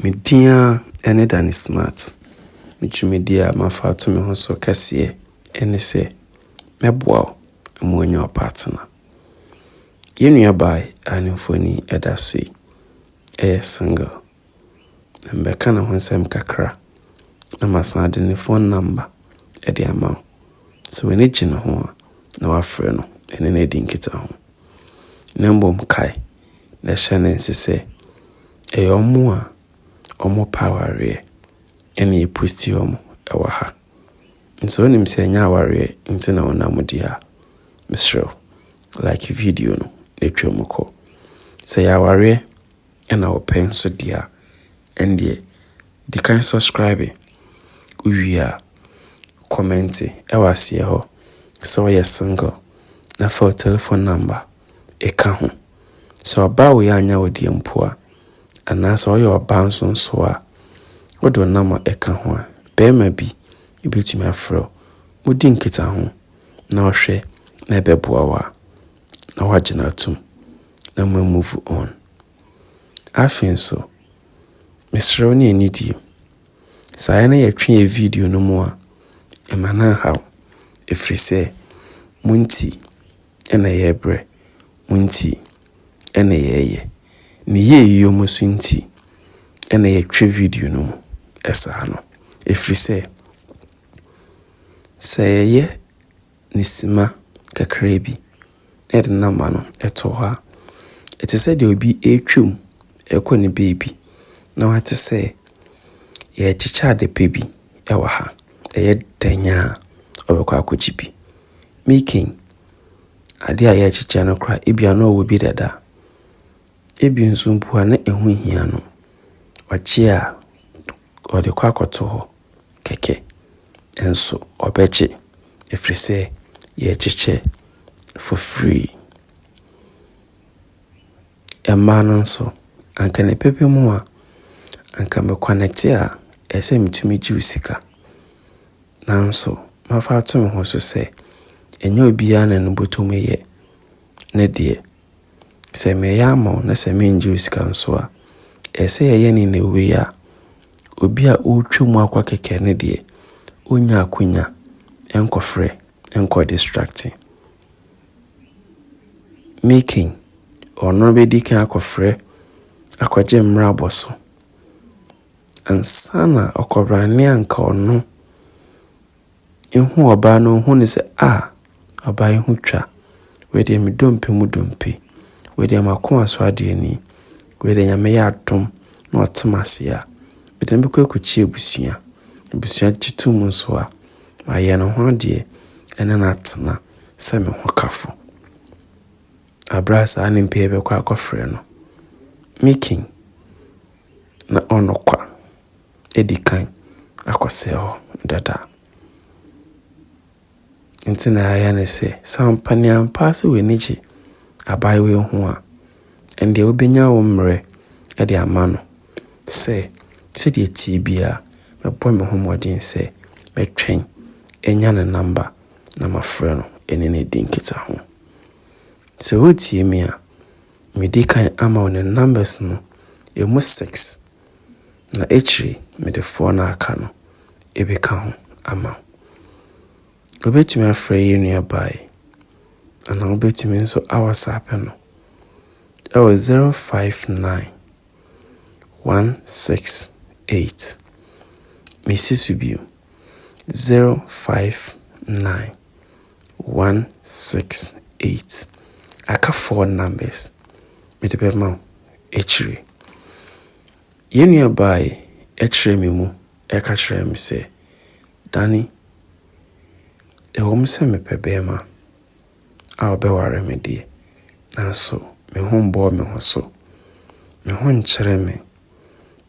Me din ara ne Danny Smart. Me dwumadie a mafa ato me ho so kɛseɛ ne sɛ mɛboa wo ma woanya wo partner. Yɛn nuabaa a ne mfoni da so yi yɛ single, na mɛka ne ho nsɛm kakra na masan de ne phone number de ama wo. Sɛ w'ani gye ne ho a na wafrɛ no ne no adi nkitaho. Na mmom kae. na ɛhyɛ no nse sɛ ɛyɛ wɔn a wɔpɛ awareɛ na yɛpusti wɔn wɔ ha. Nso wonim sɛ ɛnyɛ awareɛ nti na wonam di a, mesrɛ wo, like video no na twa mu kɔ. Sɛ ɛyɛ awareɛ na wopɛ nso di a, ɛndeɛ di kan subscribe. Wowie a, kɔmɛnte wɔ aseɛ hɔ sɛ woyɛ single na fa wo telefon nɔmba. ɛka ho. Sɛ ɔbaa wei anyɛ wo deɛ mpo a, anaasɛ ɔyɛ ɔbaa nso nso a, wode wo nɔma ɛka ho a, barima bi bɛtumi afrɛ wo. Modi nkitaho na ɔhwɛ na ɛbɛboa wo a, na woagye no atom na mo move on. Afei nso, mesrɛ wo ne ani die. Saa yɛ na yɛtwe yɛ video no mu a, ɛma no anhaw. Ɛfiri sɛ, mo nti na yɛbrɛ mu nti na yɛyɛ, ne yɛyeyɔ mu nso nti na yɛtwe video no mu saa no. Ɛfiri sɛ, sɛ yɛyɛ no simma kakra bi na yɛde no ama no to hɔ a, ɛte sɛ deɛ obi retwa mu rekɔ ne baabi na wate sɛ yɛrekyekyɛ ade pa bi wɔ ha, ɛyɛ dɛn a, ɔbɛkɔ akɔgye bi. Making, adeɛ a yɛrekyekyɛ no koraa, ebia na ɔwɔ bi dada. Ebi nso mpo a na ɛho nhia no, ɔkye a, ɔde kɔ akɔto hɔ kɛkɛ. Nanso ɔbɛkye ɛfiri sɛ yɛrekyekyɛ for free. Mmaa no nso, anka ne pɛpɛ mu a, anka me connect a, ɛsɛ sɛ metumi gye wo sika. Nanso mafa ato me ho so sɛ, ɛnyɛ obiara na no botum yɛ ne deɛ. Sɛ meyɛ ama wo na sɛ menngye wo sika nso a, ɛsɛ sɛ yɛyɛ no in a way a obi a ɔretwa mu akɔ kɛkɛ no deɛ, ɔnnya akwanya nkɔfrɛ nkɔ distracte making. Ɔno bɛdi kan akɔfrɛ akɔgye mmra bɔ so. Ansa na ɔkɔbraa nea anka ɔno ehu ɔbaa no, ohuu no sɛ, ah, ɔbaa yi ho twa. Wei deɛ me dompe mu dompe. Wei deɛ m'akoma so adeɛ ni. Wei deɛ nyame yɛ adom na ɔte m'ase a, mede no bɛkɔ akɔkyi abusua. Abusua gye to mu nso a, mayɛ ne ho adeɛ ɛne no atena sɛ me ho kafo. Aberɛ a saa nimpa yi bɛkɔ akɔfrɛ no, Mikin. na ɔno kwa adi kan akɔsɛe hɔ dada. Nti na yɛayɛ ne sɛ, sɛ ampa ne ampa sɛ w'ani gye abaayewa yi ho a, ɛndeɛ wobɛnya wo mmerɛ de ama no sɛ, sɛdeɛ ɛteɛ biara mɛbɔ me ho mmɔden sɛ mɛtwɛn anya ne namba na mafrɛ no ɛne no adi nkitaho. Sɛ wotie me a. Medi kan ama wo ne numbers no ɛmu six na akyiri mede four no aka no ɛbɛka ho ama wo. Wobɛtumi afrɛ yɛn nuabaa yi anaa wobɛtumi nso awɔsape no ɛwɔ zero five nine one six eight. Mesi so bio. zero five nine one six eight aka four numbers mede bɛma wo akyire. Yɛn nua baa yi ɛkyerɛ me mu ɛka kyerɛ me sɛ Danny ɛwɔ mu sɛ mepɛ bɛɛma a ɔbɛware me deɛ nanso me ho mbɔɔ me ho so me ho nkyerɛ me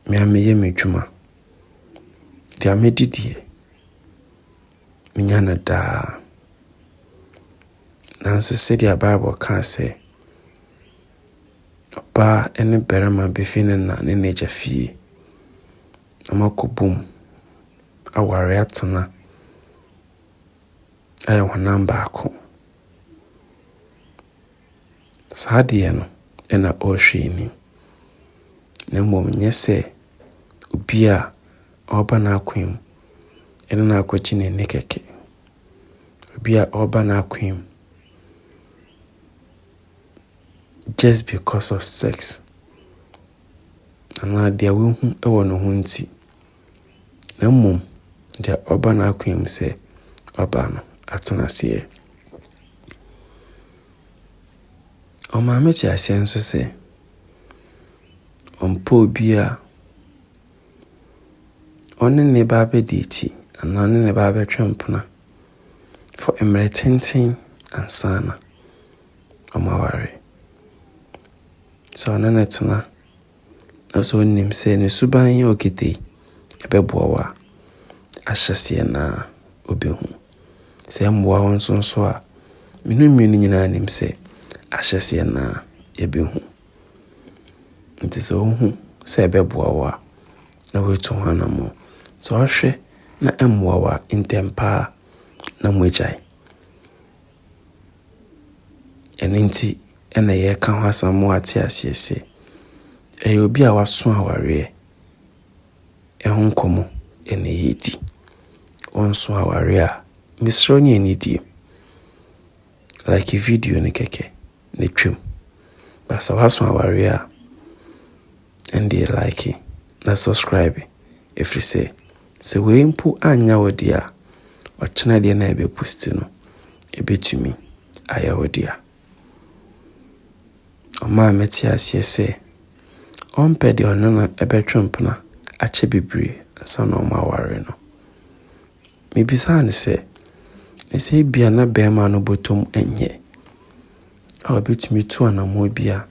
me a meyɛ me dwuma. Deɛ medi deɛ, menya no daa. Nanso sɛdeɛ Bible ka sɛ, ɔbaa ne barima bɛfi ne na ne n'agya fie na wɔakɔbom aware atena ayɛ honam baako. Saa deɛ no na ɔrehwɛ anim, na mmom nyɛ sɛ obi a ɔreba n'akoa mu ne no akɔgye ne nne kɛkɛ, obi a ɔreba n'akoa mu just because of sex anaa deɛ wahu wɔ ne ho nti. na mmom deɛ ɔba n'akoa mu sɛ ɔba no atena aseɛ. Ɔmaa me te aseɛ nso sɛ ɔmpɛ obi a ɔne ne ba abɛdi akyi anaa ɔne ne ba abɛtwe mpena for mmerɛ tenten ansa na wɔaware. Sɛ ɔne no tena. na sɛ ɔnim sɛ ne suban a ɔkita yi ɛbɛboa wo a, ahyɛseɛ no ara ɔbɛhu. Sɛ ɛmmoa wo nso nso a, me ne mmienu nyinaa nim sɛ ahyɛseɛ no ara yɛbɛhu. Nti sɛ wohu sɛ ɛbɛboa wo a, na woatu ho anammɔn. Sɛ wohwɛ na ɛmmoa wo a, ntɛmpa ara na moagyae. Ɛno nti na yɛreka ho asɛm ma wɔate aseɛ sɛ, ɛyɛ obi a waso awareɛ ho nkɔmmɔ na yɛredi. Wonso awareɛ a, mesrɛ wo ne yɛn nnidie. Like video no kɛkɛ na twam. But sɛ woaso awareɛ a. Ɛndeɛ like na subscribe ɛfiri sɛ sɛ wei mpo annya wo dea ɔkyena deɛ na ɛbɛ post no ɛbɛtumi ayɛ wo dea. Ɔmaa me te aseɛ sɛ ɔmpɛ deɛ ɔne no ɛbɛtwe mpena akyɛ bebree ansa na ɔmo aware no. Mebisaa no sɛ, Na sɛ ebia na barima no bɔtɔ mu nyɛ a obetumi tu anammɔn bi a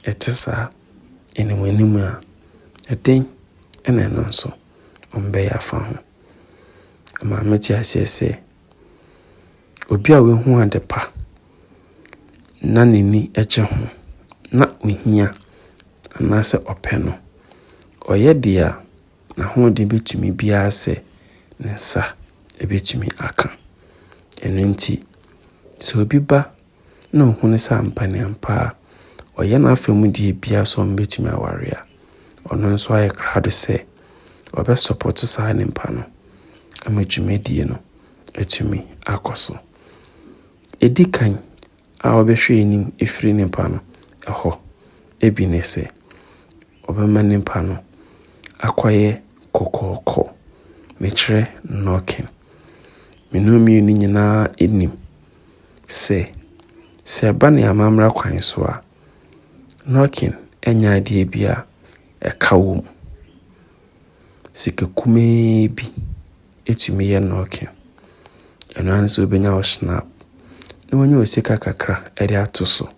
ɛte saa anim anim a, ɛdɛn na ɛno nso ɔmbɛyɛ afa ho? Ɛmaa mete aseɛ sɛ, obi a wahu ade pa na n'ani gye ho na ohia anaasɛ ɔpɛ no, ɔyɛ deɛ a, N'ahoɔden bɛtumi biara sɛ ne nsa bɛtumi aka. Ɛno nti, sɛ obi ba na ɔhunu sɛ ampa ne ampa a, ɔyɛ n'afa mu deɛ biara sɛ wɔbɛtumi aware a, ɔno nso ayɛ krado sɛ ɔbɛsɔpɔto saa nipa no ama dwumadie no atumi akɔ so. Ɛdi kan a wɔbɛhwɛ anim afiri nipa no hɔ bi ne sɛ, Wɔbɛma nipa no akɔyɛ kɔkɔɔkɔ, mekyerɛ knocking. Me ne ɔmmienu no nyinaa nim sɛ, sɛ ɛba ne amammra kwan so a, knocking ɛnyɛ adeɛ bi a ɛka wɔ mu. Sika kumaa bi. ɛtumi yɛ nɔɔke. Ɛno ara ne sɛ wobɛnya wo Schnapp na woanya wo sika kakra de ato so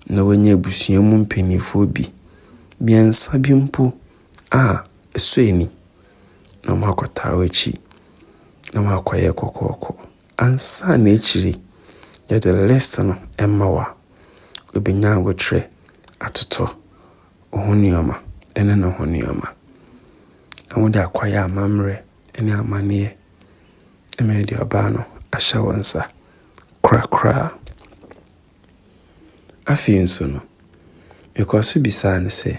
na woanya abusua mu mpanimfoɔ bi, mmiɛnsa bi mpo a ɛsɔ ani na wɔakɔtaa w'akyi na wɔakɔyɛ kɔkɔɔkɔ. Ansa na akyiri yɛde list no ɛma wo a, wobɛnya abotrɛ atotɔ Ɔho nnoɔma ne ne ho nnoɔma, na wode akɔyɛ amammerɛ ne amanneɛ, ma yɛde ɔbaa no ahyɛ wo nsa korakora. Afei nso no, mekɔɔ so bisaa no sɛ,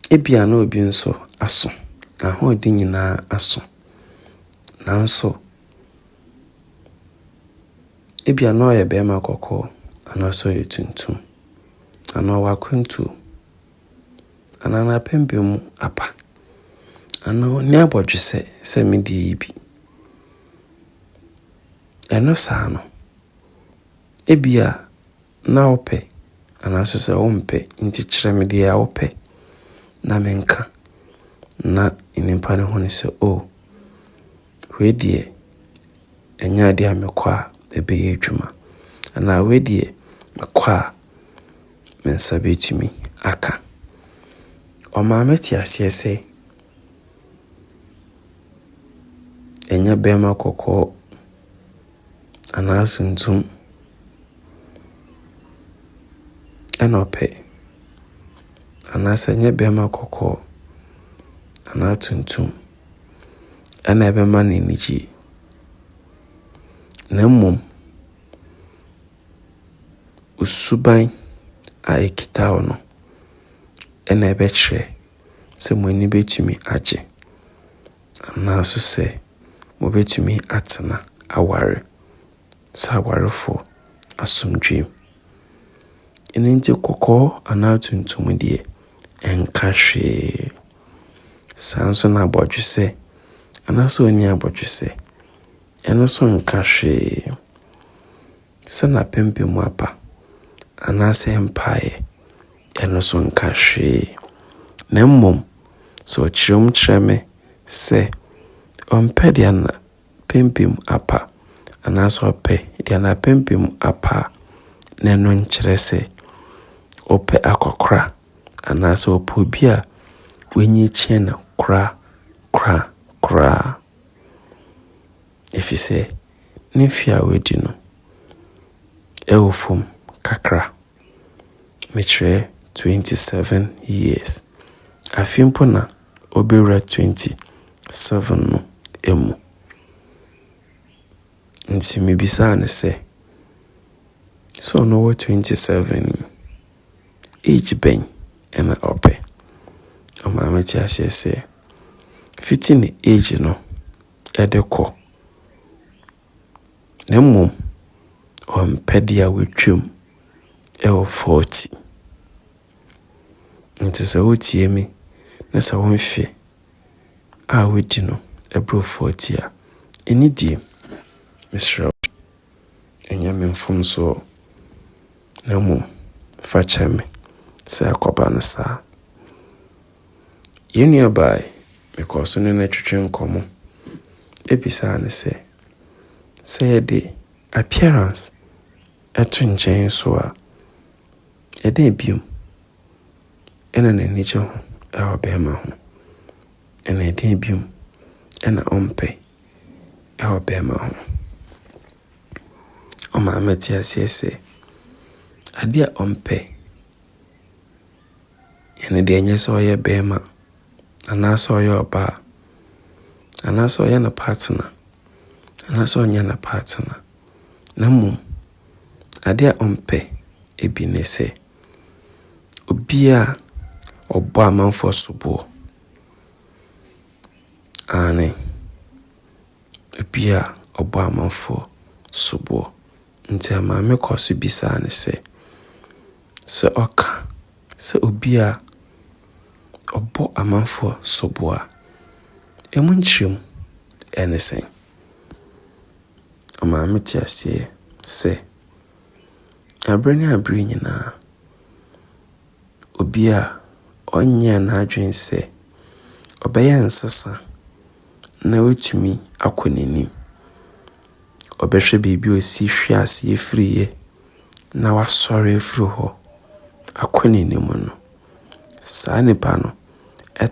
ebia na obi nso aso, n'ahoɔden nyinaa aso, nanso ebia na ɔyɛ barima kɔkɔɔ anaasɛ ɔyɛ tuntum. Anaa w'akwantuo. Anaa n'apempem mu apa. Anaa ɔnni abɔdwesɛ sɛ me deɛ yi bi. Ɛno saa no, ebia na wopɛ anaasɛ sɛ wompɛ nti kyerɛ me deɛ a wopɛ na menka na nnipa no hunu sɛ o, oh, wei deɛ ɛnyɛ adeɛ a mekɔ a ɛbɛyɛ adwuma anaa wei deɛ mekɔ a me nsa bɛtumi aka. Ɔma mete aseɛ sɛ ɛnyɛ barima kɔkɔɔ anaa tuntum na ɔpɛ anaasɛ ɛnyɛ barima kɔkɔɔ anaa tuntum. na ɛbɛma no anigye, na mmom wo suban a ɛkita wo no na ɛbɛkyerɛ sɛ mo ani bɛtumi agye anaa nso sɛ mobɛtumi atena aware. sɛ awarefo asomdwoe. Ɛno nti kɔkɔɔ anaa tuntum deɛ, ɛnka hwee. Saa nso na abɔdwesɛ anaasɛ ɔnni abɔdwesɛ, ɛno nso nka hwee. Sɛ n'apampam apa anaasɛ ɛmpaeɛ, ɛno nso nka hwee. Na mmom sɛ ɔkyerɛm kyerɛ me sɛ ɔmpɛ deɛ a, pampam apa anaasɛ ɔpɛ deɛ n'apampam apa a, na ɛno nkyerɛ sɛ ɔpɛ akɔkora anaasɛ ɔpɛ obi a w'ani kyerɛ no kora kora koraa. Ɛfiri sɛ ne mfeɛ a w'adi no ɛwɔ fam kakra. Mekyerɛ twenty seven years. Afe mpo na ɔbɛwura twenty seven no mu. Nti me bisaa no sɛ, sɛ ɔno wɔ twenty seven yi, age bɛn na ɔpɛ? Ɔmaa me te aseɛ sɛ, fiti ne age no de kɔ, na mmom ɔmpɛ deɛ watwam wɔ forty. Ntsi sɛ wotsie me na sɛ wo mfe a wodi no bor forty a, enyi gye mu. Meserɛ wo, nnyɛ me mfomso o, na mbom fa kyɛ me sɛ akɔba no saa. Hɛn nuabaa yi, mokɔr do nye no twetwee nkɔmbɔ. Mebisaa no sɛ, sɛ yɛdze appearance to nkyɛn so a, Ɛdɛn bio na n'ani gye ho wɔ barima ho, na ɛdɛn bio na ɔmpɛ wɔ barima ho? Ɔma mete aseɛ sɛ, adeɛ a ɔmpɛ, ɛno deɛ ɛnyɛ sɛ ɔyɛ barima anaasɛ ɔyɛ ɔbaa, anaasɛ ɔyɛ ne partner anaasɛ ɔnyɛ ne partner, na mmom. Adeɛ a ɔmpɛ bi ne sɛ, obi a ɔbɔ amanfoɔ soboɔ, aane, obi a ɔbɔ amanfoɔ soboɔ. Nti maame kɔ so bisa no sɛ, sɛ ɔka sɛ obi a ɔbɔ amanfoɔ soboɔ a, emu nkyerɛmu ne sɛn? Ɔmaa metee aseɛ sɛ, berɛ ne berɛ nyinaa, obi a ɔnyɛɛ n'adwene sɛ ɔbɛyɛ nsesa na watumi akɔ n'anim, ɔbɛhwɛ baabi a ɔsi hwe aseɛ firiiɛ na wasɔre afiri hɔ akɔ n'anim no, saa nipa no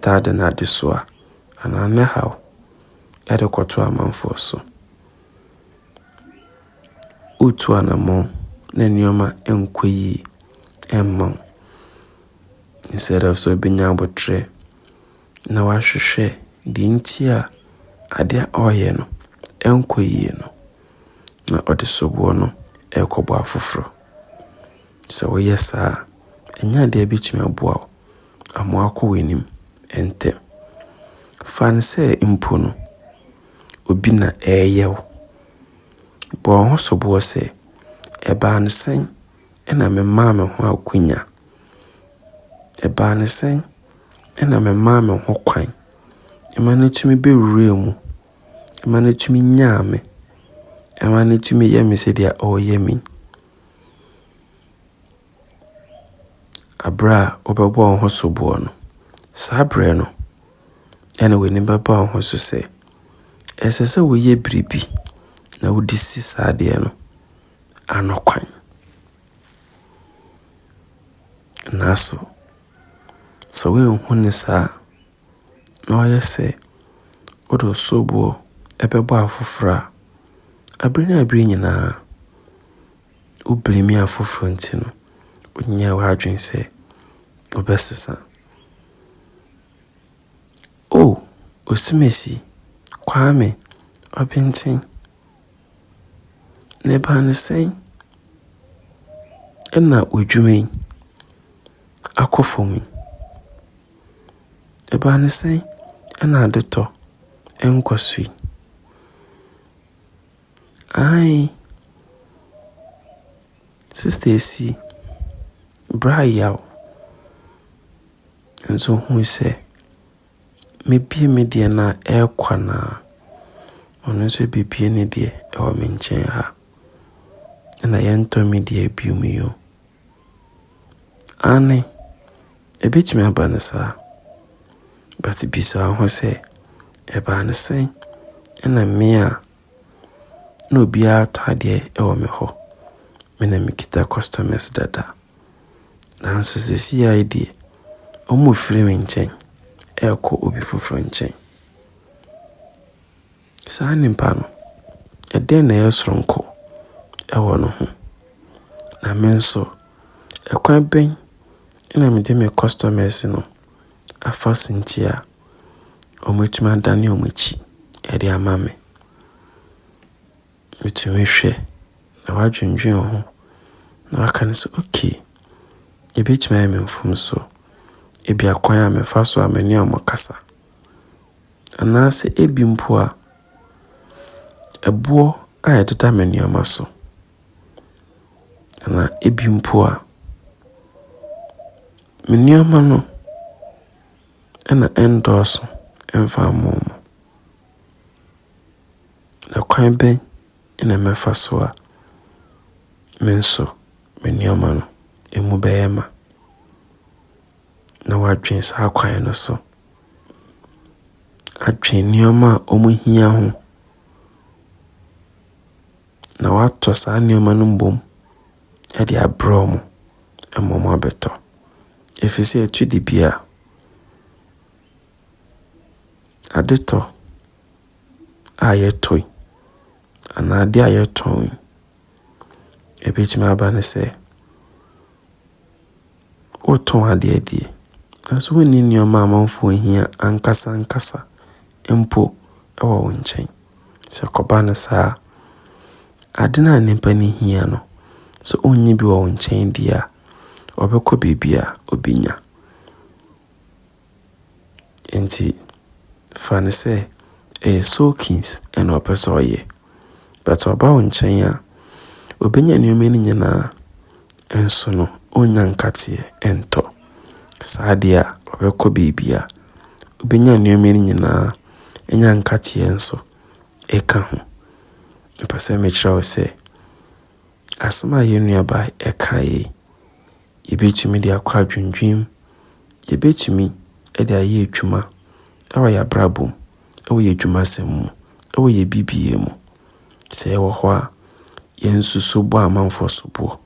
taa de n'adesoa anaa ne haw. de kɔto amanfoɔ so. Woretu anammɔn na nneɛma nkɔ yie mma wo. Instead of sɛ wobɛnya aboterɛ na woahwehwɛ deɛ nti a adeɛ a ɔreyɛ no nkɔ yie no, na ɔde soboɔ no rekɔbɔ afoforɔ. Sɛ woyɛ saa a, ɛnyɛ adeɛ a ɛbɛtumi aboa wo. Amoa akɔ w'anim ntɛm. Fa no sɛ mpo no, obi na ɛreyɛ wo. Bɔ wo ho soboɔ sɛ, 'Ɛbaa no sɛn na memaa me ho akwannya? Ɛbaa no sɛn na memaa me ho kwan ma no tumi bɛwuraa mu, ma no tumi nyaa me, ma no tumi yɛɛ me sɛdeɛ ɔreyɛ me yi? Berɛ a wobɛbɔ wo ho soboɔ no, saa berɛ no na w'ani bɛba wo ho so sɛ ɛsɛ sɛ woyɛ biribi na wode si saa adeɛ no ano kwan. Nanso sɛ woanhu no saa a, na ɔyɛ sɛ wode wo soboɔ bɛbɔ afoforɔ a, berɛ ne berɛ nyinaa wo blame afoforɔ nti no, wonyɛɛ w'adwene sɛ wobɛsesa. Oh, Osumasi, Kwame, Ɔbenten, na ɛbaa no sɛn na w'adwuma yi akɔ fam yi? Ɛbaa no sɛn na adetɔ nkɔso yi? Aane. Sista Esi, bra yaw. Nso hu sɛ, mɛbue me deɛ no a, ɛɛkwa no ara. Ɔno nso bɛbue ne deɛ wɔ me nkyɛn ha. Ɛna yɛntɔ me deɛ bio mu yi o. Aane, ɛbɛtumi aba no saa, but bisa wo ho sɛ, ɛbaa no sɛn na me a na obiara tɔ adeɛ wɔ me hɔ, me na mekita customers dada, nanso seesei ara yi deɛ, wɔrefiri me nkyɛn ɛrekɔ obi foforɔ nkyɛn. Saa nipa no, ɛdeɛn na ɛyɛ soronko wɔ ne ho? Na me nso, ɛkwan bɛn na mede me customers no afa so nti a wɔatumi adane wɔn akyi de ama me? Wotumi hwɛ na woadwendwene ho na woaka no sɛ, okay, ɛbɛtumi ayɛ me mfomsoɔ, ɛbi akwan a mefa so a mene wɔn kasa. Anaasɛ ebi mpo a, ɛboɔ a ɛdeda me nneɛma so. Anaa ebi mpo a, me nneɛma no na ɛnndɔɔso mfa mma wɔn. Na kwan bɛn na mɛfa so a me nso me nneɛma no mu bɛyɛ ma? Na wadwen saa kwan no so. atwe nneɛma a wɔhia ho, na wɔatɔ saa nneɛma no mmom de abrɛ wɔn ma wɔabɛtɔ, ɛfiri sɛ ɛtɔ da bi a, adetɔ a yɛtɔ yi anaa adeɛ a yɛtɔn yi. Ɛbɛtumi aba no sɛ, wotɔn adeɛ deɛ, nanso wonni nneɛma a amanfoɔ hia ankasa ankasa mpo wɔ wo nkyɛn. Sɛ ɛkɔba no saa a, ade no a nnipa no hia no, sɛ wonni bi wɔ wo nkyɛn deɛ a, ɔbɛkɔ baabi a ɔbɛnya. Enti fa no sɛ ɛyɛ soakings na ɔpɛ sɛ ɔyɛ. But ɔba wo nkyɛn a, ɔbɛnya nneɛma no nyinaa nso no ɔnnya nkateɛ ntɔ. Saa deɛ a ɔbɛkɔ baabi a, ɔbɛnya nneɛma no nyinaa, ɔnya nkateɛ nso ka ho. Mepɛ sɛ mekyerɛ wo sɛ. Asɛm a yɛn nuabaa kaeɛ yi, yɛbɛtumi de akɔ adwendwen mu, yɛbɛtumi de ayɛ adwuma wɔ yɛn abrabɔ mu, wɔ yɛn adwumasɛm mu, wɔ yɛn biribiara mu. Sɛ yɛwɔ hɔ a, yɛnsusu bɔ a amanfoɔ soboɔ,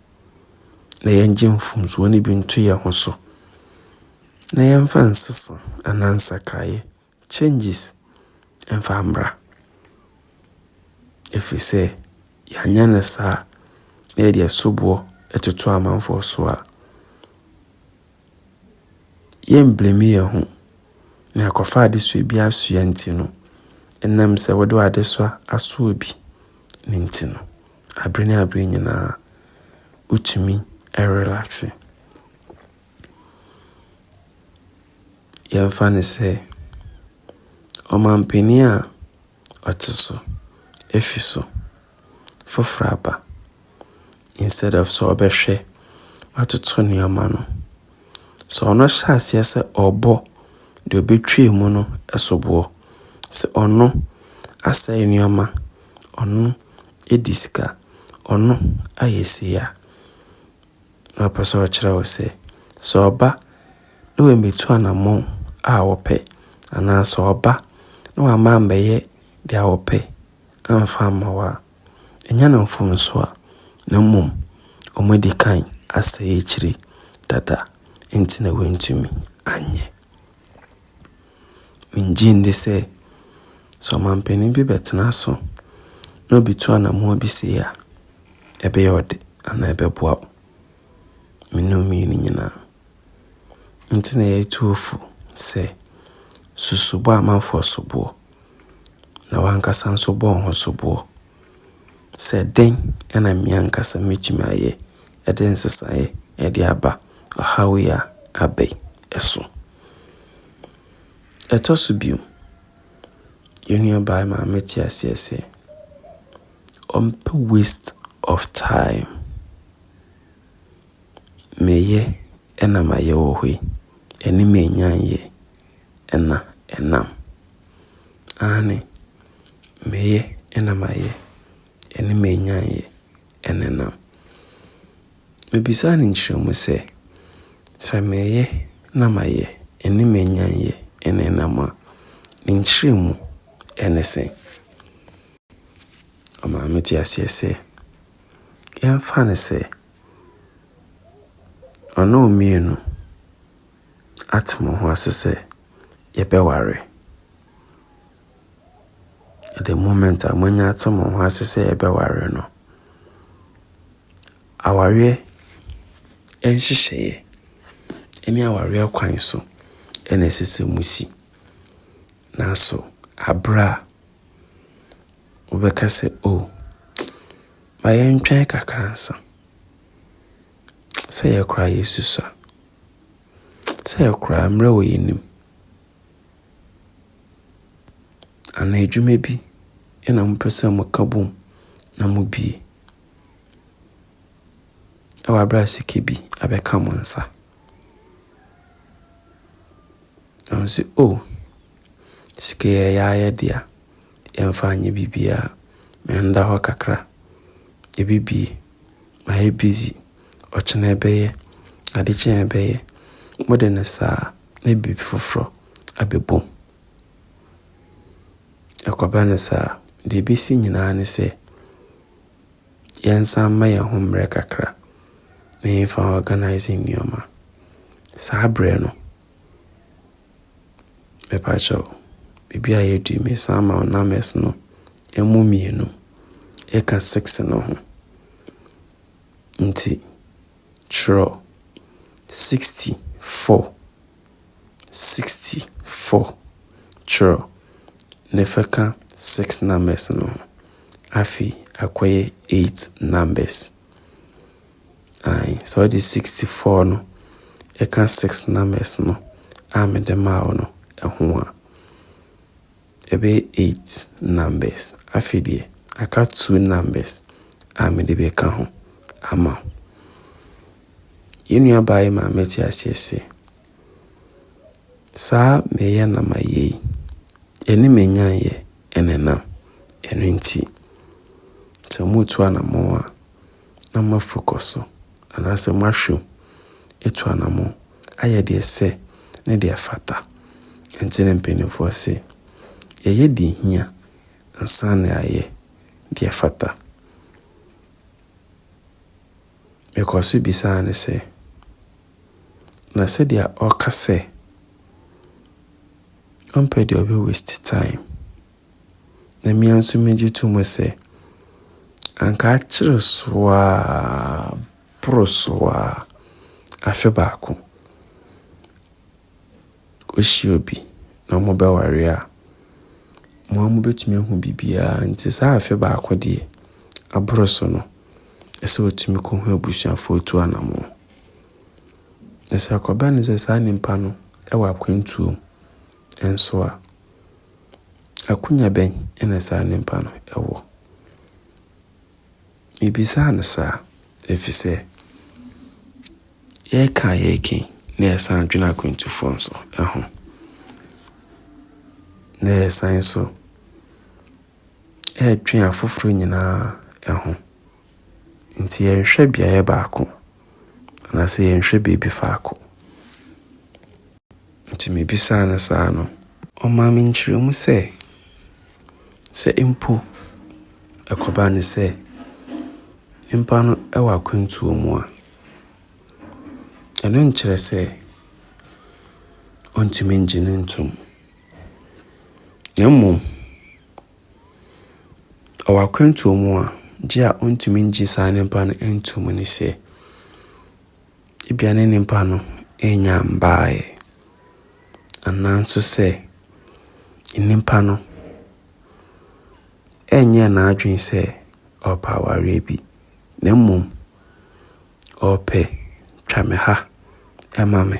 na yɛngye mfomsoɔ no bi nto yɛn ho so, na yɛmfa nsesa anaa nsakraeɛ Changes mfa mmra. Ɛfiri sɛ yɛanyɛ no saa na yɛde asoboɔ ɛtoto amanfoɔ so a, yɛn blame yɛn ho. Na yɛakɔfa adesoa bi asoa nti no, ɛnam sɛ wode w'adesoa asɔ obi no nti no, aberɛ ne aberɛ nyinaa wotumi relaxe. Yɛmfa no sɛ ɔmanpanin a ɔte so afi so foforɔ aba, instead of sɛ ɔbɛhwɛ atoto nneɛma no, sɛ ɔno hyɛ aseɛ sɛ ɔrebɔ deɛ ɔbɛtwa mu no soboɔ, sɛ ɔno asɛe nneɛma, ɔno adi sika, ɔno ayɛ sei a. Na ɔpɛ sɛ ɔkyerɛ wo sɛ, sɛ ɔba na wammɛtu anammɔn a wɔpɛ, anaa sɛ ɔba na wamma ammɛyɛ deɛ wɔpɛ amfa amma wo a, ɛnyɛ no mfomsoɔ a, na mmom wɔadi kan asɛe akyire dada nti na wɔantumi anyɛ. Mennye nni sɛ sɛ ɔmampanin bi bɛtena so na obi tu anammɔn bi sei a, ɛbɛyɛ wo de anaa ɛbɛboa wo. Me ne wo mmienu nyinaa. Nti na yɛtu wo fo sɛ susu bɔ amanfoɔ soboɔ na w'ankasa nso bɔ wo ho soboɔ. Sɛ dɛn na me ankasa metumi ayɛ de nsesaeɛ de aba ɔhaw yi a aba yi so? Ɛtɔ so bio, yɛn nuabaa maame te aseɛ sɛ, ɔmpɛ waste of time. Meyɛ na mayɛ wɔ hɔ yi, ɛne me nnya nyɛ. na ɛnam. Aane, meyɛ na mayɛ, ɛne m'anyanyɛ na ɛnam. Mebisaa no nkyerɛmu sɛ, Sɛ meyɛ na mayɛ, ɛne m'anyanyɛ na ɛnam a, ne nkyerɛmu ne sɛn? Ɔmaa me tee aseɛ sɛ, yɛmfa no sɛ, ɔne wo mmienu ate mo ho ase sɛ yɛbɛware. At the moment a moanya ate mo ho ase sɛ yɛbɛware no, awareɛ nhyehyɛeɛ ne awareɛ kwan so na ɛsɛ sɛ mosi. Nanso aberɛ a wobɛka sɛ o ma yɛntwɛn kakra nsa. Sɛ yɛ koraa Yesu sua. Sɛ yɛ koraa mmerɛ wɔ yɛn anim. Anaa adwuma bi na mopɛ sɛ moka bom na mobie. Ɛwɔ aberɛ a sika bi abɛka mo nsa. Na mo sɛ o, oh, sika yɛ yɛ ayɛ dea. Yɛmfa nyɛ biribiara. Mɛnda hɔ kakra. Yɛbɛbie. Mayɛ busy, ɔkyena ɛbɛyɛ, ade kye a ɛbɛyɛ, mode no saa na biribi foforɔ abɛbom. Ɛkɔba no saa, deɛ ɛbɛsi nyinaa ne sɛ, yɛnsan mma yɛn ho mmerɛ kakra na yɛmfa organise nneɛma. Saa berɛ no. Mepa kyɛw, biribi a yɛadi me san ma wo numbers no ɛmu mmienu ɛka six no ho. Nti twerɛ sixty four, sixty four twerɛ na fa ka six numbers no ho. Afei akɔyɛ eight numbers. Ae, sɛ wode sixty four no ɛka six numbers no a mede maa wo no ɛho a, ɛbɛyɛ eight numbers. Afei deɛ, aka two numbers a mede bɛka ho ama wo. Yɛn nuabaa yi maa mete aseɛ sɛ, saa meyɛ na mayɛ yi, ɛne manyanyɛ ɛnenam. Ɛno nti, sɛ moretu anamɔn a, na moafu kɔ so, anaasɛ moahwim atu anamɔn ayɛ deɛ ɛsɛ ne deɛ ɛfata. Ɛnti na mpaninfoɔ se, Yɛyɛ deɛ ɛhia ansa na yɛayɛ deɛ ɛfata. Mekɔ so bisaa no sɛ, Na sɛdeɛ ɔka sɛ ɔmpɛ deɛ ɔbɛ waste time. Na me ara nso megye to mu sɛ, anka akyere so a, boro so a, afe baako, wohyia obi na mobɛware a, mo ara mobɛtumi ahu biribiara. Nti saa afe baako deɛ, aboro so no, ɛsɛ sɛ ɔtumi kɔhu abusuafoɔ tu anamɔn. Na sɛ ɛkɔba no sɛ saa nipa no wɔ akwantuo mu. nso a, akwanya bɛn na saa nipa no wɔ? Mibisaa no saa efisɛ yɛreka a yɛreka yi na yɛsan dwene akwantufoɔ nso ho, na yɛsan nso redwe afoforɔ nyinaa ho. Nti yɛnhwɛ beaeɛ baako anaasɛ yɛnhwɛ baabi faako. Nti mebisaa no saa no. Ɔmaa me nkyerɛmu sɛ, sɛ mpo ɛkɔba no sɛ nnipa no wɔ akwantuo mu a, ɛno nkyerɛ sɛ wɔntumi ngye no ntom. Na mmom, ɔwɔ akwantuo mu a, gye a wɔntumi ngye saa nnipa no ntom ne sɛ, Ebia ne nipa no annya mbaeɛ, anaa nso sɛ nipa no ɛnyɛɛ n'adwene sɛ ɔrepɛ awareɛ bi, na mmom ɔrepɛ twa me ha ma me,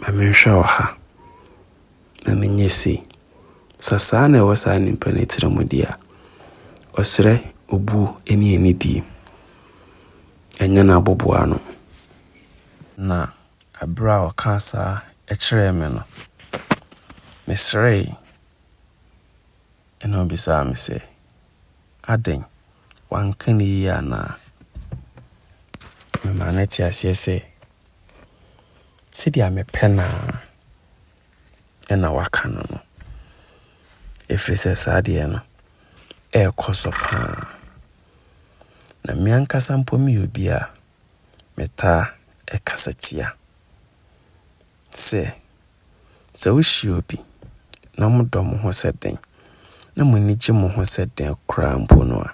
ma menhwɛ ɔha. na menyɛ sei. Sɛ saa na ɛwɔ saa nipa no tiri mu deɛ a, ɔsrɛ obuo ne anidie. Ɛnyɛ no aboboa ano. Na berɛ a ɔkaa saa kyerɛɛ me no, mesrɛe. Ɛnna ɔbisaa me sɛ, Adɛn, wanka no yie anaa? Memaa no te aseɛ sɛ, Sɛdeɛ mepɛ no ara ɛnna waka no no, ɛfiri sɛ saa adeɛ no rekɔ so paa. Na me ankasa mpo meyɛ obi a metaa kasa tia. sɛ, Sɛ wohyia obi na modɔ mo ho sɛ dɛn na mo ani gye mo ho sɛ dɛn koraa mpo no a,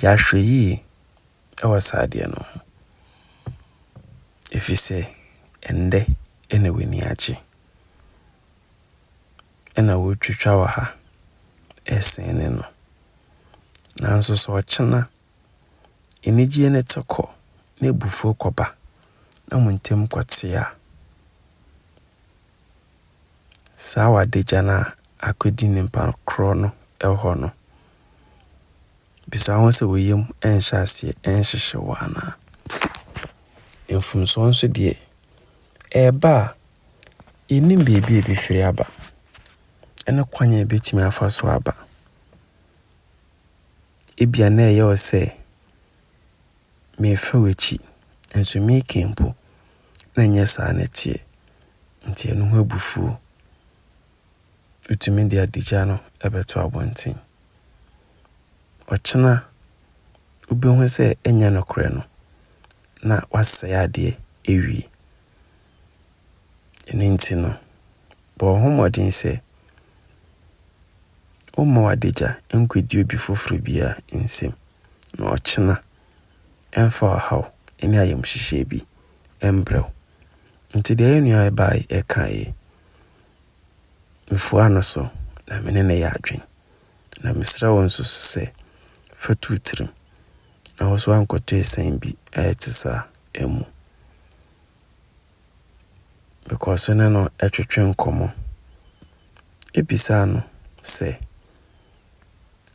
yɛ ahwɛyie wɔ saa adeɛ no ho. Ɛfiri sɛ, ɛnnɛ na w'ani agye. Ɛna wotwitwa wɔ ha, ɛsene no. Nanso sɛ ɔkyena. Anigyeɛ no te kɔ na abufuo kɔba na mo ntam kɔte a, saa wadagya no a akɔdi nipa korɔ no hɔ no, bisa wo ho sɛ wo yam nhyɛ aseɛ nhyehye wo anaa? Mfomsoɔ nso deɛ, ɛba a, yɛnnim baabi a ɛbɛfiri aba ne kwan a ɛbɛtumi afa so aba. Ebia na ɛyɛ wo sɛ merefa w'akyi, nso meka mpo na ɛnyɛ saa na ɛteɛ. Nti ɛno ho abufuo. Wotumi de adagya no bɛto abɔnten. Ɔkyena wobɛhu sɛ ɛnyɛ nokorɛ no, na woasɛe adeɛ awie. Ɛno nti no, bɔ ho mmɔden sɛ womma w'adagya nkɔdi obi foforɔ biara nsam, na ɔkyena ɛmfa ɔhaw ne ayamhyehyeɛ bi mbrɛ wo. Nti deɛ yɛn nua yi baeɛ kaeɛ yi, mefua no so na me ne no yɛ adwene. Na mesrɛ wo nso so sɛ fa tu wo tirim na wo nso ankɔto asiane bi a ɛte saa mu. Mekɔɔ so ne no twetwe nkɔmmɔ. Ebisaa no sɛ,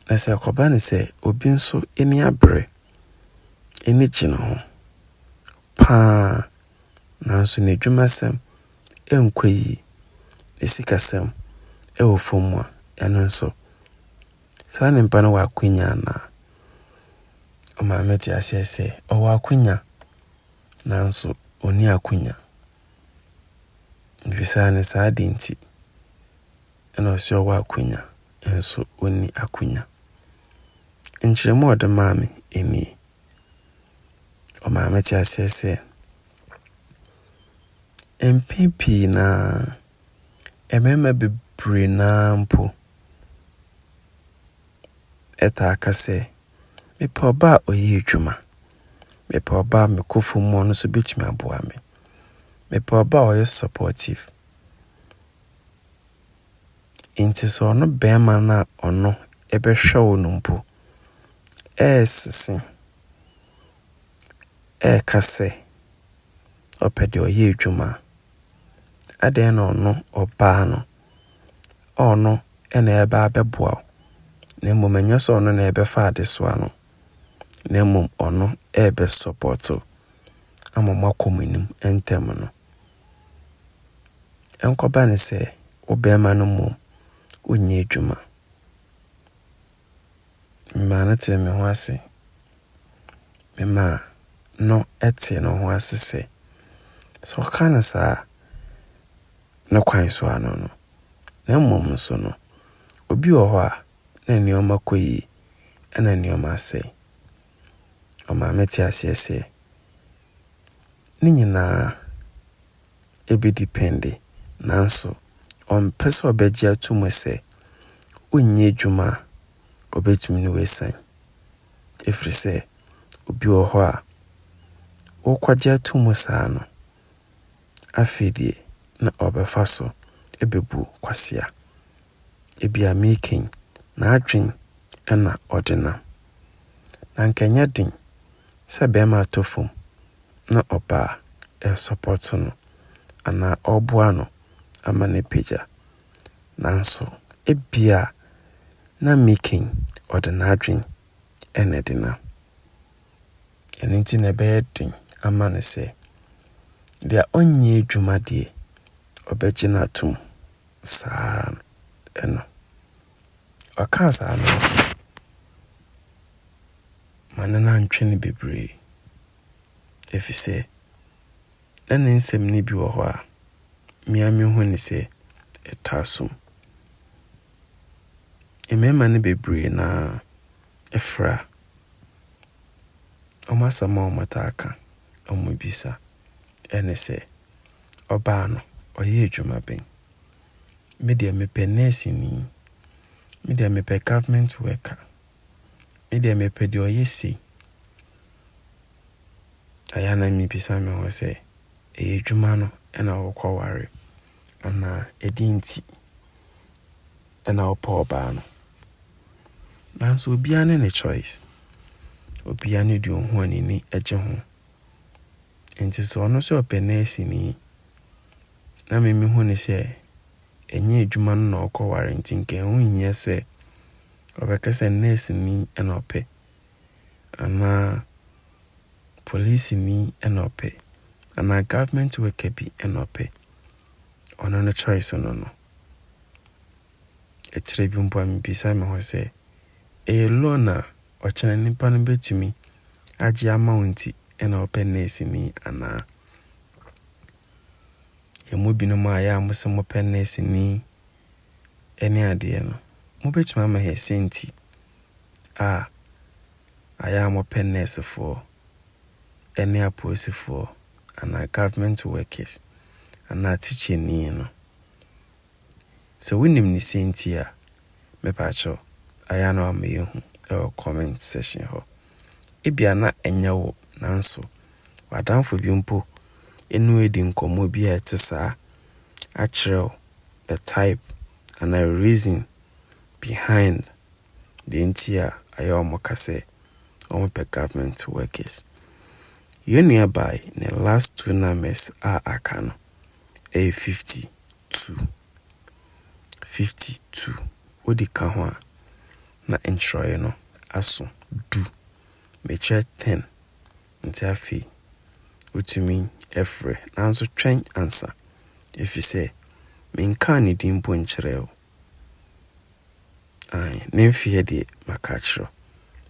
na sɛ ɛkɔba no sɛ obi nso ani abere, ani gye ne ho paa, nanso n'adwumasɛm nkɔ yie, ne sikasɛm wɔ fam a, ɛno nso, saa nipa no wɔ akwanya anaa? Ɔmaa me tee aseɛ sɛ ɔwɔ akwanya. nanso ɔnni akonya. Mebisaa no saa adeɛ nti, ɛna ɔse ɔwɔ akonya nso ɔnni akonya. Nkyerɛmu a ɔde maa me nie. Ɔmaa me te aseɛ sɛ, mpɛn pii no ara, mmarima bebree no ara mpo, taa ka sɛ, Mepɛ ɔbaa a ɔyɛ adwuma. Mepɛ ɔbaa a me kofo mu ɔno nso bɛtumi aboa me. Mepɛ ɔbaa a ɔyɛ supportive. Nti sɛ ɔno bɛrima no a ɔno ɛbɛhwɛ wo no mpo ɛresese, ɛreka sɛ ɔpɛ deɛ ɔyɛ adwuma a, adɛn na ɔno ɔbaa no ɔno na ɛreba abɛboa wo, na mmom ɛnyɛ sɛ ɔno na ɛbɛfa adesoa no, na mmom ɔno rebɛsɔpɔto ama moakɔ mo anim ntɛm no. Ɛnkɔba ne sɛ wo bɛrima no mmom wonyɛ adwuma. Memaa no tee me ho ase. Memaa no tee ne ho ase sɛ sɛ ɔka no saa a, ne kwan so ano no, na mmom nso no, obi wɔ hɔ a, na nneɛma kɔ yie, ɛna nneɛma asɛe. Ɔmaa me te aseɛ sɛ, ne nyinaa ɛbɛdi pɛnde, nanso ɔmpɛ sɛ ɔbɛgye ato mu sɛ wonyɛ adwuma a ɔbɛtumi ne wo asiane. Ɛfiri sɛ, obi wɔ hɔ a, wokɔgye ato mu saa no, Afei deɛ na ɔrebɛfa so abebu kwasea. Ebia Meekin n'adwene na ɔde nam. Na anka ɛnyɛ den sɛ barima atɔ fam na ɔbaa resɔpɔto no anaa ɔreboa no ama no apagya. Nanso ebia na Meekin ɔde n'adwene na ɛde nam. Ɛno nti na ɛbɛyɛ den ama no sɛ deɛ ɔnyɛ adwuma deɛ ɔbɛgye no atom saa ara no. Ɔkaa saa no nso, ma no no antwe no bebree ɛfiri sɛ na ne nsɛm no bi wɔ hɔ a, me ara mehu no sɛ ɛtɔ asom. Mmarima no bebree no ara. fra, wɔn asɛm a wɔtaa ka, wɔbisa ne sɛ, Ɔbaa no, ɔyɛ adwuma bɛn? Me deɛ mepɛ nɛɛseni, me deɛ mepɛ government worker, me deɛ mepɛ deɛ ɔyɛ sei. Ɛyɛ na mebisa me ho sɛ, ɛyɛ adwuma no na wɔkɔware anaa ɛdeɛ nti? ɛna ɔpɛ ɔbaa no. Nanso obiara ne ne choice. Obiara ne deɛ ɔhu a n'ani gye ho. Nti sɛ ɔno sɛ ɔpɛ nɛɛseni na me mehu ne sɛ ɛnyɛ adwuma no na ɔkɔware nti nka ɛho nhia sɛ ɔbɛka sɛ nɛɛseni na ɔpɛ anaa polisini na ɔpɛ anaa government worker bi na ɔpɛ. Ɔno ne choice no no. Akyire bi mpo a mebisa me ho sɛ, ɛyɛ loan a ɔkyena nipa no bɛtumi agye ama wo nti na ɔpɛ nɛɛseni anaa? Yɛn mu binom a yɛ a mo sɛ mopɛ nɛɛseni ne adeɛ no, mobɛtumi ama yɛn sɛ nti a ayɛ a mopɛ nɛɛsefoɔ ne apolisifoɔ anaa government workers anaa tikyani no. Sɛ wonim ne siantie a, mepakyɛw, ayɛ na wama yɛahu wɔ comment section hɔ. Ebia na ɛnyɛ wo, nanso w'adamfo bi mpo ne wo adi nkɔmmɔ bi a ɛte saa akyerɛ wo the type anaa reason behind deɛ nti a ayɛ wɔn ka sɛ wɔpɛ government workers. Yɛn nua baa yi, ne last two numbers a aka no ɛyɛ 50. tu, fifty tu, wode ka ho a, na nkyerɛwee no aso du. Mekyerɛ ten, nti afei wotumi frɛ. Nanso twɛn ansa, efisɛ menkaa ne din mpo nkyerɛɛ wo. Aane, ne mfeɛ deɛ maka akyerɛ wo.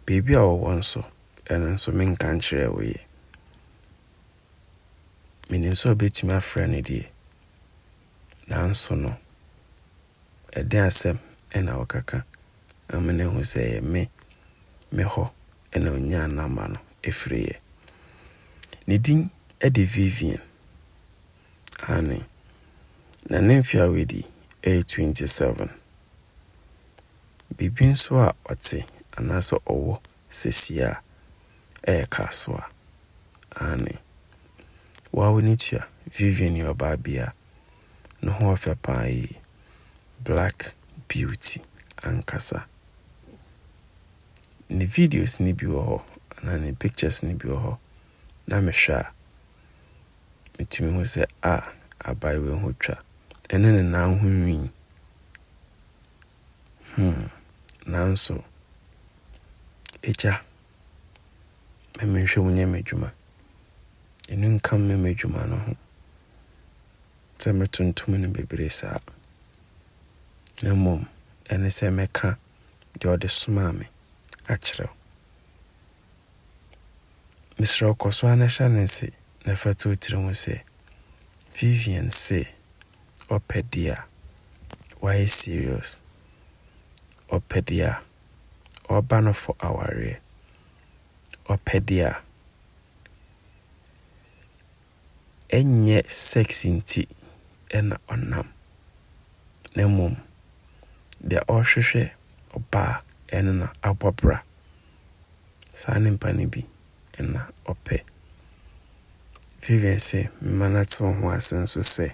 Baabi a ɔwɔ nso, ɛno nso menka nkyerɛɛ wo yɛ. Menim sɛ wobɛtumi afrɛ no deɛ, Nanso no, ɛdeɛn asɛm na wokaka ama no ahu sɛ ɛyɛ me, me hɔ na ɔnyaa nɔma no firiiɛ? Ne din de Vivian, aane, na ne mfeɛ a wadi yɛ 27. Biribi nso a ɔte anaasɛ ɔwɔ sesie a ɛyɛ kasoa aane. Wawo ne tua Vivian yɛ ɔbaa bi a ne ho ɔfɛ paa yie black beauty ankasa. Ne videos no bi wɔ hɔ anaa ne pictures no bi wɔ hɔ na me hwɛ a me tumi hu sɛ ah abayewa yi ho twa ɛne ne nan ho nwii. Hmm, nanso, Agya, ma menhwɛ mu nyɛ m'adwuma. Ɛno nka mmɛ m'adwuma no ho sɛ mɛtontom no bebree saa, na mmom ɛne sɛ mɛka deɛ ɔde somaa me akyerɛ wo. Mesrɛ wo kɔ so ara na hyɛ no nse na fa to wo tirim sɛ, Vivian se, ɔpɛ dea wayɛ serious ɔpɛ dea ɔba no fɔ awareɛ ɔpɛ dea ɛnyɛ sex nti ɛna ɔnam na mmom dea ɔhwehwɛ ɔbaa ɛno na abɔ bra saa nimpa no bi na ɔpɛ. Vivian se mema no atew ho ase nso sɛ,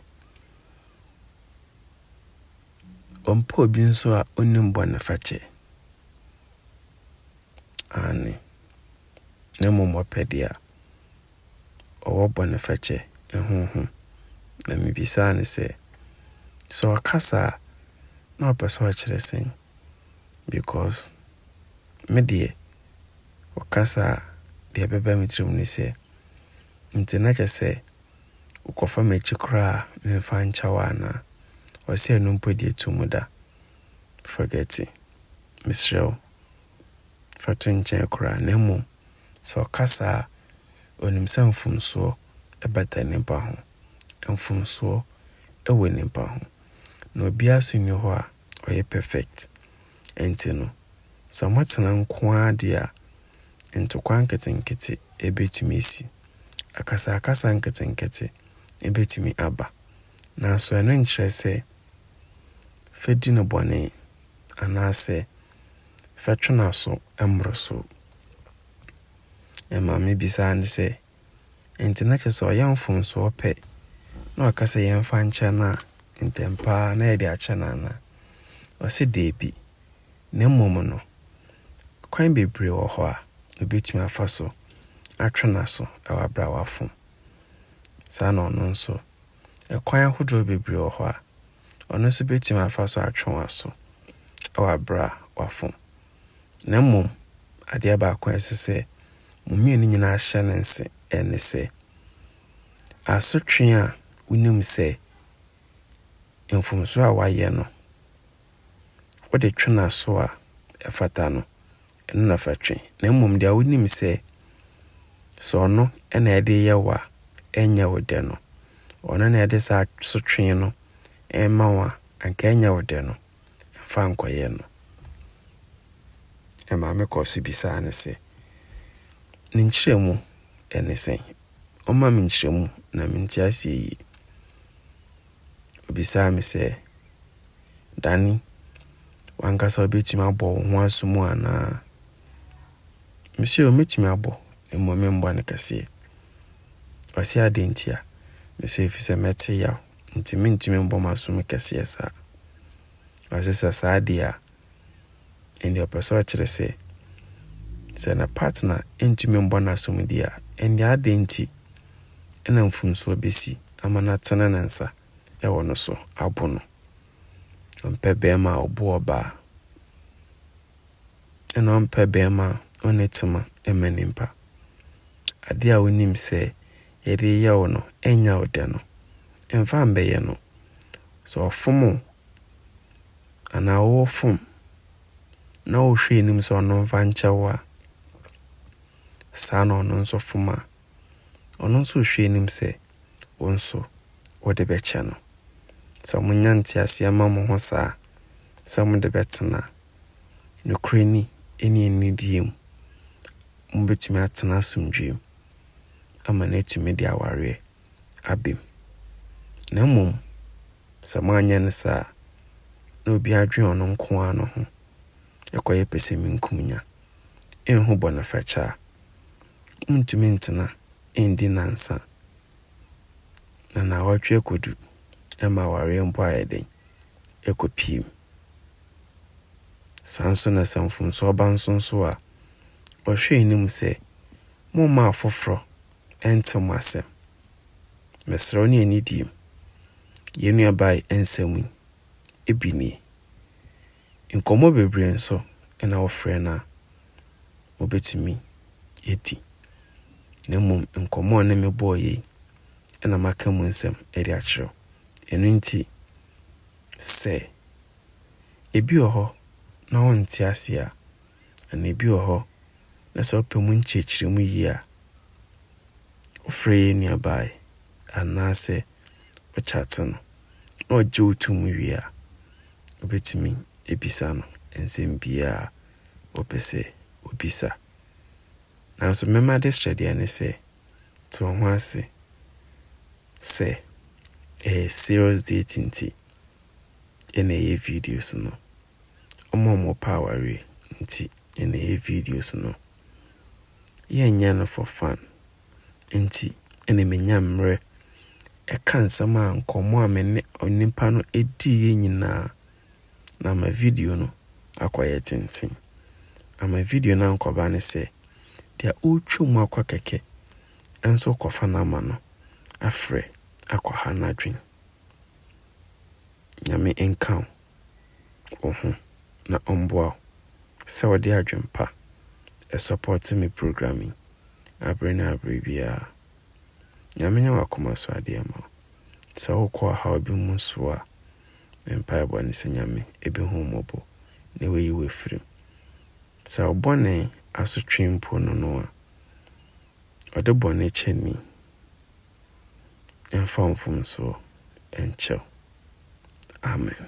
Ɔmpɛ obi nso a onnim bɔnefakyɛ. Aane, na mmom ɔpɛ deɛ ɔwɔ bɔnefakyɛ ho ho. Na mebisaa no sɛ, Sɛ ɔka saa a, na ɔpɛ sɛ ɔkyerɛ sɛn? because me deɛ ɔkasa a deɛ ɛbɛba me tirim ne sɛ, nti na kyerɛ sɛ wokɔfa m'akyi koraa memfa nkyɛ wo anaa? Ɔse ɛno mpo deɛ to mu da. Forget it. Mesrɛ wo, fa to nkyɛn koraa na mmom sɛ ɔkasa a, onim sɛ mfomsoɔ bata nnipa ho. Mfomsoɔ wɔ nnipa ho. Na obiara nso nni hɔ a ɔyɛ perfect nti no sɛ ɔmo tena nko ara deɛ a ntokwa nketenkete ɛbɛtumi asi, akasakasa nketenkete ɛbɛtumi aba nanso ɛno nkyerɛ sɛ fɛ di no bɔne anaasɛ fɛ twe n'aso mmoro so. Ɛma me bisa ne sɛ. Enti na kyerɛ sɛ ɔyɛ mfomsoɔ pɛ na ɔka sɛ yɛmfa nkyɛ no a, ntɛm pa ara na yɛde akyɛ no anaa? Ɔse daabi, na mmom no, kwan bebree wɔ hɔ a ɔbɛtumi afa so atwe n'aso wɔ abrawa fam. Saa na ɔno nso, kwan ahodoɔ bebree wɔ hɔ a ɔno nso bɛtumi afa so atwe w'aso wɔ abrawa fam. Na mmom, adeɛ baako a ɛsɛ sɛ mo mmienu nyinaa hyɛ no nse ne sɛ, asotwe a wonim sɛ mfomsoɔ a wayɛ no, wode twe n'aso a ɛfata no, ɛno na fa twe. Na mmom deɛ wonim sɛ, sɛ ɔno na ɛde yɛ wo a, ɛnyɛ wo dɛ no, ɔno na ɛde saa asotwe no ɛma wo a, anka ɛnyɛ wo dɛ no. Fa nkɔyɛ no. Na maame kɔɔ so bisaa no sɛ, Ne nkyerɛmu ne sɛn? Ɔmma me nkyerɛmu na mente aseɛ yie. Ɔbisaa me sɛ, Dani, w'ankasa wobɛtumi abɔ wo ho aso mu anaa? Mese, O, mɛtumi abɔ, mmom memmɔ no kɛseɛ. Ɔse, Adɛn ntia? Mese, Ɛfiri sɛ mɛte yaw Nti mentumi mbɔ m'asom kɛseɛ saa. Ɔse sɛ saa deɛ a, ɛnneɛ ɔpɛ sɛ ɔkyerɛ sɛ, sɛ ne partner ntumi mbɔ no asom deɛ a, ɛnneɛ adɛn nti na mfomsoɔ bɛsi ama no atene ne nsa wɔ no so abo no? Ɔmpɛ barima a ɔbu ɔbaa, ɛna ɔmpɛ barima a ɔnni tema ma nnipa. Ade a wonim sɛ yɛde reyɛ wo no, ɛnyɛ wo dɛ no, mfa mbɛyɛ no. Sɛ ɔfom wo anaa wo wo fom na wohwɛ anim sɛ ɔno mfa nkyɛ wo a, saa na ɔno nso fom a, ɔno nso rehwɛ anim sɛ wo nso wode bɛkyɛ no. Sɛ monya nteaseɛ ma mo ho saa sɛ mode bɛtena nokorɛ ni ne anidie mu, mobɛtumi atena asomdwoeɛ mu ama no atumi de awareɛ aba mu. Na mmom sɛ moanyɛ no saa a, na obiara dwene ɔno nko ara ne ho, ɛkɔyɛ pɛsɛmenkomenya. Ɛnho bɔnefakyaa Wontumi ntena nndi nnansa, na nnawɔtwe ɛkɔdu ɛma awareɛ mpo ayɛ dɛn? Ɛkɔ pirim. Saa nso na sɛ mfomsoɔ ba nso nso a, wɔhwɛ anim sɛ, Momma afoforɔ ɛnte mo asɛm. Mesrɛ wo ne anidie mu, yɛn nuabaa yi nsɛm yi bi nie. Nkɔmmɔ bebree nso na wofrɛ no a, mubetumi adi. Na mmom nkɔmmɔ a ɔne me bɔeɛ yi na maka mu nsɛm de akyerɛ wo. Ɛno nti, sɛ ebi wɔ hɔ na wonte aseɛ a, anaa ebi wɔ hɔ na sɛ wopɛ mu nkyerɛkyerɛmu yie a, wofrɛ yɛn nuabaa yi anaasɛ wokyate no na ɔgye wo tom wie a, Wobɛtumi abisa no nsɛm biara a wopɛ sɛ wobisa. Nanso me m'adesrɛ deɛ ne sɛ, te wo ho ase sɛ ɛyɛ serious date nti na ɛyɛ videos no. Wɔn a wɔpɛ awareɛ nti na ɛyɛ videos no. Yɛnyɛ no for fun. nti na menya mmerɛ ka nsɛm a nkɔmmɔ a me ne onipa no diiɛ nyinaa na ama video no akɔyɛ tenten. Ama video no ankɔba ne sɛ, deɛ ɔretwa mu akɔ kɛkɛ nso rekɔfa number no afrɛ akɔha n'adwene. Nyame nka wo. wo ho na ɔmboa wo sɛ ɔde adwen pa ɛsɔpɔte me program yi abere ne abere biara. Nyame nyɛ wakoma so adeɛ ma wo. Sɛ wo kɔ ɔhaw bi mu nso a, me mpaebɔ ne sɛ Nyame ɛbɛhu wo mmɔbɔ na wayi wo afiri mu. Sɛ wo bɔne asotwe mpo no no a, ɔde bɔne kyɛ ni ɛmfa wo mfomsoɔ ɛnkyɛ wo. Amen.